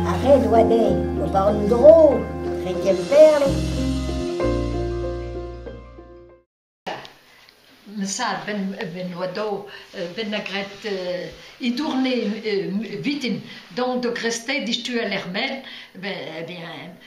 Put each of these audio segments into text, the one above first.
Ar red oa dezhi ober un dro dre Kemperle. Sa ben oa daou ben a gret e dourne vitin donc de grester distual er men ben eh bien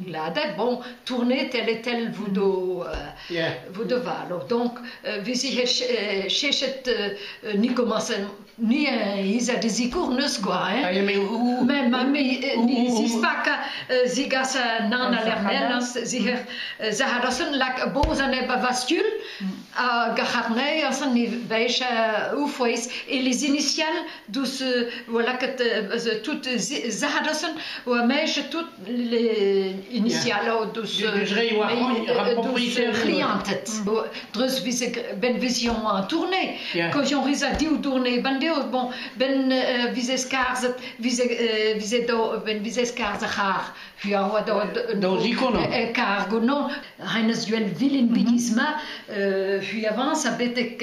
gladek, bon, tourner tel et tel vous do, euh, vous devalo. Donc, euh, wie sie chechet euh, ni commencen, ni isa de zikur neus gwa, hein. Mais ma me, ni zisbaka zigasa nan alernel, ziher, zahad asen lak bozan eba vastul, a gacharnei asen ni veich ufweis, et les initiales dus, voilà, que tout zahad asen, ou mech tout les initialos dus clientes dreus vise ben vision an tournée ko jon risa diw tournée ban deo bon ben vise skarzet vise vise do ben vise skarz a c'har hu a oa do do jikono e kar gono renes duen vilin bidisma hu avance a betek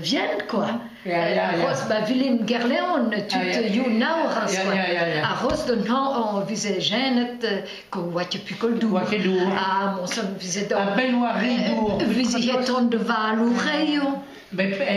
vielle quoi. Ya, ya, ya. Roz ba vilin Gerleon tud ah, you now raz quoi. A roz d'un han on vise jenet ko oa tu pu koldou. Oa ket dour. Ah mon son vise do. A bel oa ridour. Vise heton de val ou reio. Mais